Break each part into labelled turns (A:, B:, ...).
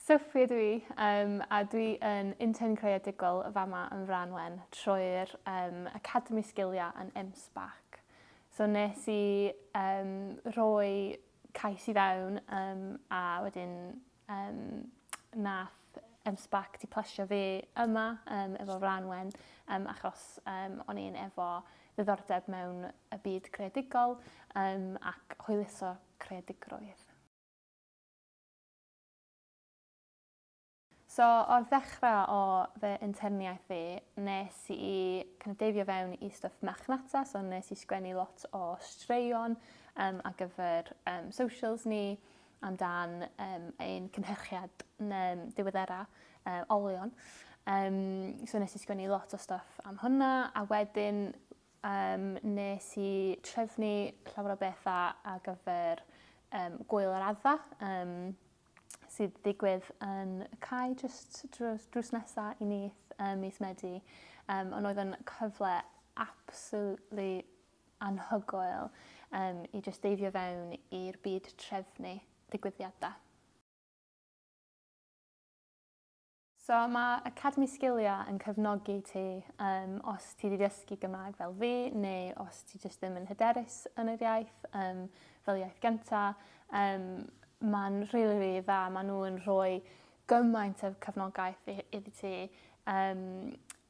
A: Sophie ydw i, um, a dwi yn intern creadigol y fama yn Franwen trwy'r um, Academi Sgiliau yn MSBAC. So nes i um, roi cais i fewn um, a wedyn um, nath MSBAC di plesio fi yma um, efo Franwen um, achos um, o'n i'n efo ddiddordeb mewn y byd creadigol um, ac hwyluso creadigrwydd. So, o'r ddechrau o fy interniaeth fi, nes i kind of deifio fewn i stuff machnata, so nes i sgwennu lot o straeon um, ar gyfer um, socials ni, am dan um, ein cynhyrchiad um, diweddera um, olion. Um, so nes i sgwennu lot o stuff am hwnna, a wedyn um, nes i trefnu llawer o bethau a gyfer um, gwyl yr adda, um, sydd digwydd yn cael just drws, drws nesaf i nith um, mis Medi. Um, ond oedd yn cyfle absolutely anhygoel um, i just deifio fewn i'r byd trefnu digwyddiadau. So mae Academi Sgiliau yn cyfnogi ti um, os ti wedi dysgu Gymraeg fel fi neu os ti jyst ddim yn hyderus yn yr iaith um, fel iaith gyntaf. Um, Mae'n rili, really, really dda. Maen nhw'n rhoi gymaint o cyfnogaeth iddi ti. Um,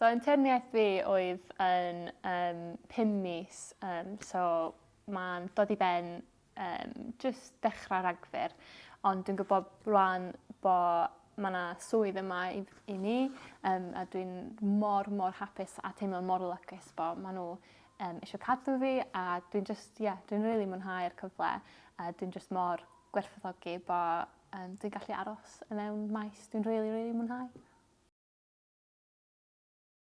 A: So yn teyrniaeth fi oedd yn um, pum mis, um, so mae'n dod i ben um, just dechrau ragfyr, ond dwi'n gwybod rwan bod mae yna swydd yma i, i ni, um, a dwi'n mor, mor hapus a teimlo mor lygus bod maen nhw um, eisiau cadw fi, a dwi'n just, yeah, dwi'n rili really mwynhau'r cyfle, a dwi'n just mor gwerthogi bod Yym dwi'n gallu aros i mewn maes dwi'n rili rili mwynhau.